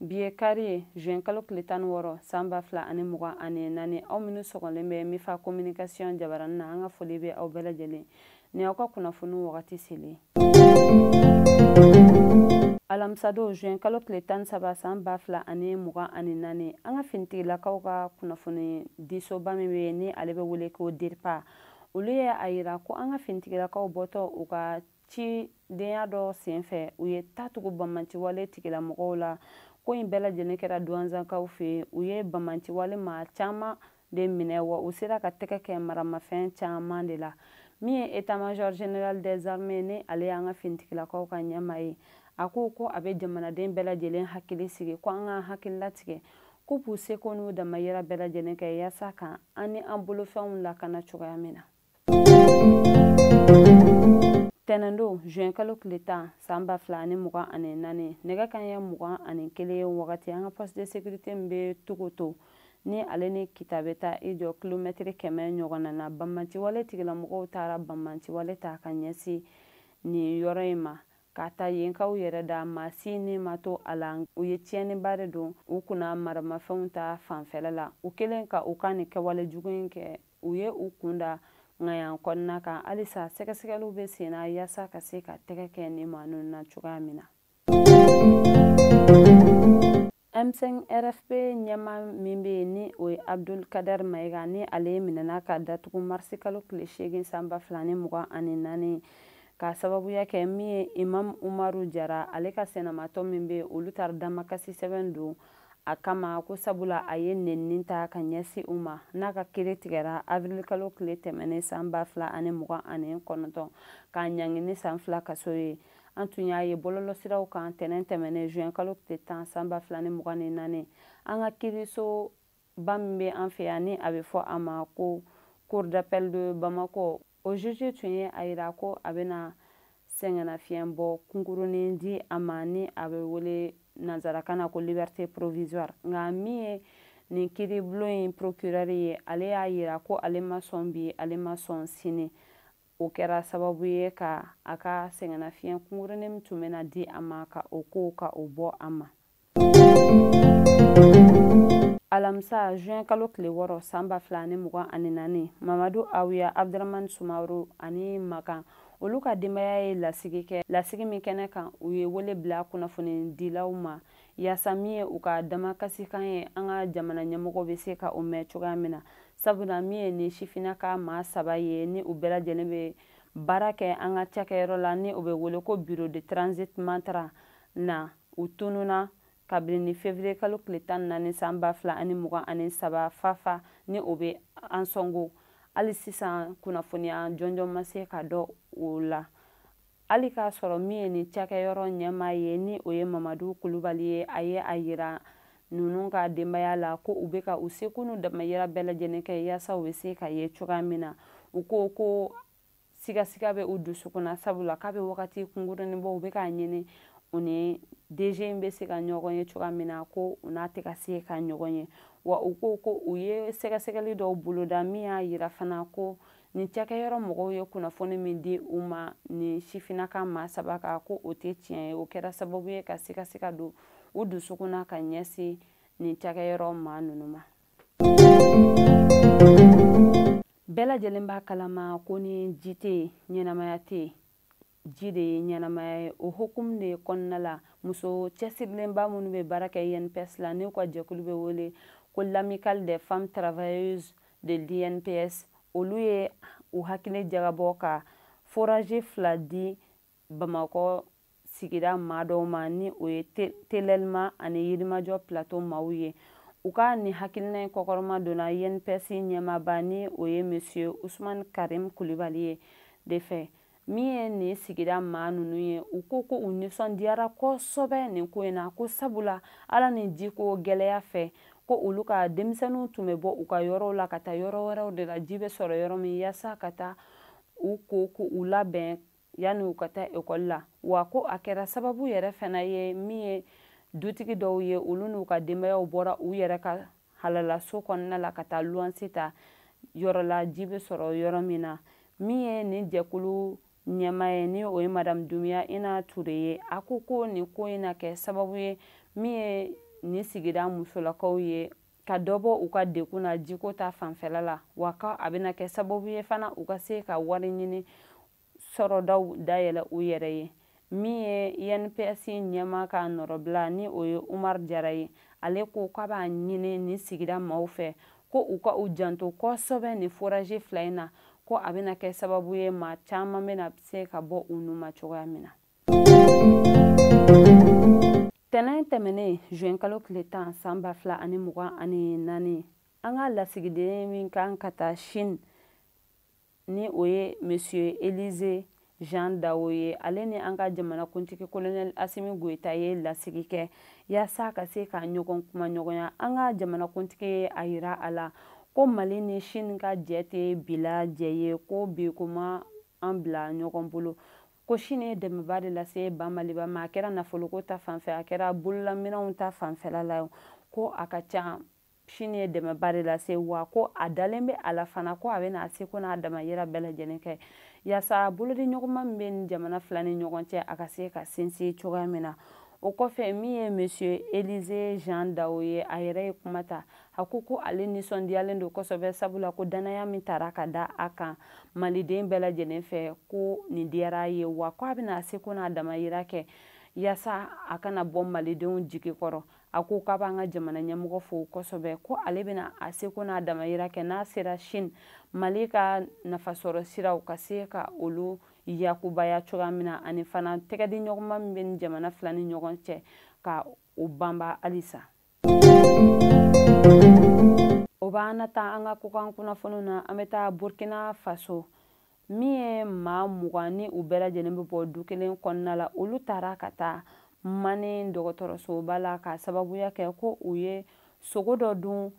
Bi ye kari ye juin kalo tile tan ni wɔɔrɔ san ba fila ani mugan ani naani aw minnu sɔgɔlen bɛ mifa communication jabarani na an ka foli bɛ aw bɛɛ lajɛlen ni aw ka kunnafoni wagati selen alamisadon juin kalo tile tan ni saba san ba fila ani mugan ani naani an ka finitigilakaw ka kunnafoni disoba min bɛ yen ni ale bɛ wele ko dirpa olu ye a yira ko an ka finitigilakaw bɔtɔ u ka cidenya dɔ senfɛ u ye tatugu banbanciwale tigilamɔgɔw la ko in bɛɛ lajɛlen kɛra duwanzankaw fɛ u ye banbanciwale maa caman de minɛ wa u sera ka tɛgɛ kɛ maramafɛn caman de la min ye état major général des armées ni ale y'an ka finitigilakaw ka ɲɛmaa ye a ko ko a bɛ jamanaden bɛɛ lajɛlen hakili sigi ko an k'an hakili latigɛ k'u b'u seko n'u damayira bɛɛ lajɛlen kɛ yaasa ka an ni an bolofɛnw lakana cogoya min na tɛnɛndon juin kalo tile tan san ba fila ani mugan ani naani nɛgɛ kanɲɛ mugan ani kelen wagati an ka poste de sécurité min bɛ Tukoto ni ale ni kita bɛ taa i jɔ kilomɛtiri kɛmɛ ɲɔgɔnna na banbanciwale tigilamɔgɔw taara banbanciwale ta ka ɲɛsin nin yɔrɔ in ma k'a ta yenkaw yɛrɛ da maa si ni ma to a la u ye tiɲɛniba de don u kunna maramafɛnw ta fanfɛla la u kɛlen ka u ka nin kɛwale jugu in kɛ u ye u kun da ŋayan kɔnɔna kan halisa sɛgɛsɛgɛliw bɛ sen na yaasa ka se ka tɛgɛ kɛ nin maa ninnu na cogoya min na M5 RFP ɲɛmaa min bɛ yen ni o ye Abdul Kader Mayiga ni ale minɛna ka datugu marisi kalo tile seegin san ba fila ni mugan ani naani k'a sababuya kɛ min ye Imam Umaru Jara ale ka sinamatɔn min bɛ yen olu taara damakasi sɛbɛn don a kama ko sabula a ye nenini ta ka ɲɛsin u ma n'a ka kiiri tigɛra avirilikalo tile tɛmɛnen san ba fila ani mugan ani kɔnɔntɔn k'a ɲangi ni san fila kaso ye an tun y'a ye bɔlɔlɔsiraw kan tɛnɛn tɛmɛnen juin kalo tile tan san ba fila ni mugan ni naani an ka kiirisoba min bɛ an fɛ yan ni a bɛ fɔ a ma ko cour d'appel de bamako O juge tun ye a yira ko a bɛna sɛgɛnnafiɲɛbɔ kunkurunin di a ma ni a bɛ wele nanzarakan na ko liberté provisoire nka min ye nin kiiribulon in procureur ye ale y'a yira ko ale ma sɔn bi ale ma sɔn sini o kɛra sababu ye ka a ka sɛgɛnnafiɲɛ kunkurunin min tun bɛna di a ma ka o ko ka o bɔ a ma alamisa juin kalo tile wɔɔrɔ san ba fila ani mugan ani naani mamadu awuya abdramani sumaworo ani makan olu ka denbaya ye lasigi kɛ lasigi min kɛnɛ kan u ye wele bila kunnafonidilaw ma yaasa min ye u ka damakasikan ye an ka jamana ɲɛmɔgɔ bɛ se ka o mɛn cogoya min na sabula min ye nin sifina ka maa saba ye ni u bɛɛ lajɛlen bɛ baara kɛ an ka cakɛyɔrɔ la ni o bɛ wele ko bureau de transit Mantara na u tununa kabini ni fevrier kalo tile tan ni naani san ba fila ani mugan ani saba fafa ni o bɛ ansɔngo hali sisan kunnafoniya jɔnjɔn ma se ka dɔn o la hali k'a sɔrɔ min ye nin cakɛyɔrɔ ɲɛmaa ye ni o ye mamadu kulubali ye a ye a yira ninnu ka denbaya la ko u bɛ ka u seko n'u damayira bɛɛ lajɛlen kɛ yaasa u bɛ se ka ye cogoya min na u ko ko sigasiga bɛ u dusukun na sabula k'a bɛ wagati kunkurunin bɔ u bɛ k'a ɲini u ni DG in bɛ se ka ɲɔgɔn ye cogoya min na ko u n'a tɛ ka se ka ɲɔgɔn ye wa u ko ko u ye sɛgɛsɛgɛli dɔw boloda min y'a yira fana ko nin cakɛyɔrɔ mɔgɔw ye kunnafoni min di u ma nin sifinaka maa saba kan ko o tɛ tiɲɛ ye o kɛra sababu ye ka sigasiga don u dusukun na ka ɲɛsin nin cakɛyɔrɔ maa ninnu ma bɛɛ lajɛlen b'a kalama ko ni ji tɛ yen ɲɛnamaya tɛ yen ji de ye ɲɛnamaya ye o hokumu de kɔnɔna la muso cɛsirilenba minnu bɛ baara kɛ INPS la n'u ka jɛkulu bɛ wele ko l'amicale des femmes travailleuses de l'INPS olu ye u hakili jagabɔ ka forage fila di bamakɔ sigida maa dɔw ma ni o ye telɛlima ani yirimajɔ plateau maaw ye u ka nin hakilina in kɔkɔrɔma donna INPS ɲɛmaaba ni o ye monsieur usman karim kulibali ye de fɛ min ye nin sigida maa ninnu ye u ko ko u nisɔndiyara kosɛbɛ nin ko in na ko sabula ala ni jiko gɛlɛya fɛ ko olu ka denmisɛnninw tun bɛ bɔ u ka yɔrɔw la ka taa yɔrɔ wɛrɛw de la ji bɛ sɔrɔ yɔrɔ min yaasa ka taa u ko ka u labɛn yanni u ka taa ekɔli la wa ko a kɛra sababu yɛrɛ fana ye min ye dutigi dɔw ye olu n'u ka denbayaw bɔra u yɛrɛ ka halalaso kɔnɔna la ka taa luwanse ta yɔrɔ la ji bɛ sɔrɔ yɔrɔ min na min ye nin jɛkulu ɲɛmaa ye ni o ye madamu dumiya ina ture ye a ko ko nin ko in na kɛ sababu ye min ye nin sigida musolakaw ye ka dɔ bɔ u ka degun na jiko ta fanfɛla la wa ko a bɛna kɛ sababu ye fana u ka se ka wari ɲini sɔrɔdaw dayɛlɛ u yɛrɛ ye min ye INPS ɲɛmaa ka nɔrɔbila ni o ye Umar Jara ye ale ko k'a b'a ɲini nin sigida maaw fɛ ko u ka u janto kosɛbɛ nin forazi fila in na ko a bɛna kɛ sababu ye maa caman bɛna se ka bɔ u nun ma cogoya min na tɛnɛn tɛmɛnen juin kalo tile tan san ba fila ani mugan ani naani an ka lasigiden min kan ka taa chine ni o ye monsieur elize jean dawo ye ale ni an ka jamanakuntigi kolonɛli asimi goyita ye lasigi kɛ yaasa ka se ka ɲɔgɔn kuma ɲɔgɔnya an ka jamanakuntigi ye a yira a la ko mali ni chine ka jɛ tɛ bi la jɛ ye ko bi ko ma an bila ɲɔgɔn bolo ko chine ye dɛmɛba de lase ba maliba ma a kɛra nafoloko ta fanfɛ a kɛra bololaminɛnw ta fanfɛla la ko a ka ca chine ye dɛmɛba de lase wa ko a dalen bɛ a la fana ko a bɛna a seko n'a damayira bɛɛ lajɛlen kɛ yaasa bolodi ɲɔgɔnma min bɛ nin jamana fila ni ɲɔgɔn cɛ a ka se ka sinsin cogoya min na o kɔfɛ min ye monsieur élisée jean dao ye a yɛrɛ ye kuma ta a ko ko ale nisɔndiyalen don kosɛbɛ sabula ko dannaya min tara ka da a kan maliden bɛɛ lajɛlen fɛ ko nin diyara a ye wa ko a bɛna a seko n'a damayira kɛ yaasa a kana bɔ malidenw jigi kɔrɔ a ko k'a b'an ka jamana ɲɛmɔgɔ fo kosɛbɛ ko ale bɛna a seko n'a damayira kɛ n'a sera chine mali ka nafasɔrɔ siraw ka se ka olu yakubaya cogoya min na ani fana tɛgɛdi ɲɔgɔnma min bɛ ni jamana fila ni ɲɔgɔn cɛ ka o banba halisa o b'an na taa an ka kokan kunnafoniw na an bɛ taa burkina faso min ye maa mugan ni u bɛɛ lajɛlen bɛ bɔ du kelen kɔnɔna la olu taara ka taa mani dɔgɔtɔrɔsoba la ka sababuya kɛ ko u ye sogo dɔ dun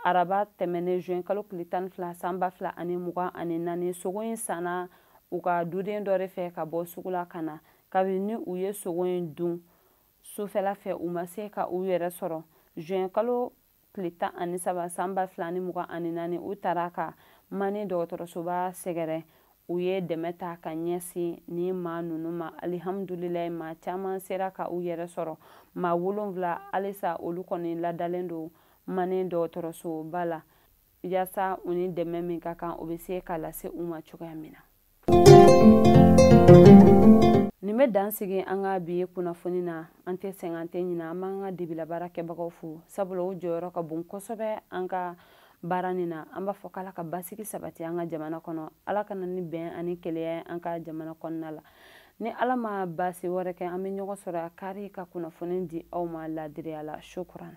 araba tɛmɛnen juin kalo tile tan ni fila san ba fila ani mugan ani naani sogo in sanna u ka duden dɔ de fɛ ka bɔ sugu la ka na kabini ni u ye sogo in dun sufɛla fɛ u ma se ka u yɛrɛ sɔrɔ juin kalo tile tan ani saba san ba fila ni mugan ani naani u taara ka mani dɔgɔtɔrɔsoba sɛgɛrɛ u ye dɛmɛ ta ka ɲɛsin ni maa ninnu ma alihamudulilayi maa caman sera ka u yɛrɛ sɔrɔ maa wolonwula halisa olu kɔni ladalen don mani dɔgɔtɔrɔsoba la yaasa u ni dɛmɛ min ka kan o bɛ se ka lase u ma cogoya min na nin bɛ dan sigi an ka bi kunnafoni na an tɛ sɛgɛn an tɛ ɲina an b'an ka dibila baarakɛbagaw fo sabula o jɔyɔrɔ ka bon kosɛbɛ an ka baara nin na an b'a fɔ k'ala ka basigi sabati an ka jamana kɔnɔ ala ka na ni bɛn ani kelenya an ka jamana kɔnɔna la ni ala ma baasi wɛrɛ kɛ an bɛ ɲɔgɔn sɔrɔ a kari ka kunnafoni di aw ma laadiriya la shukran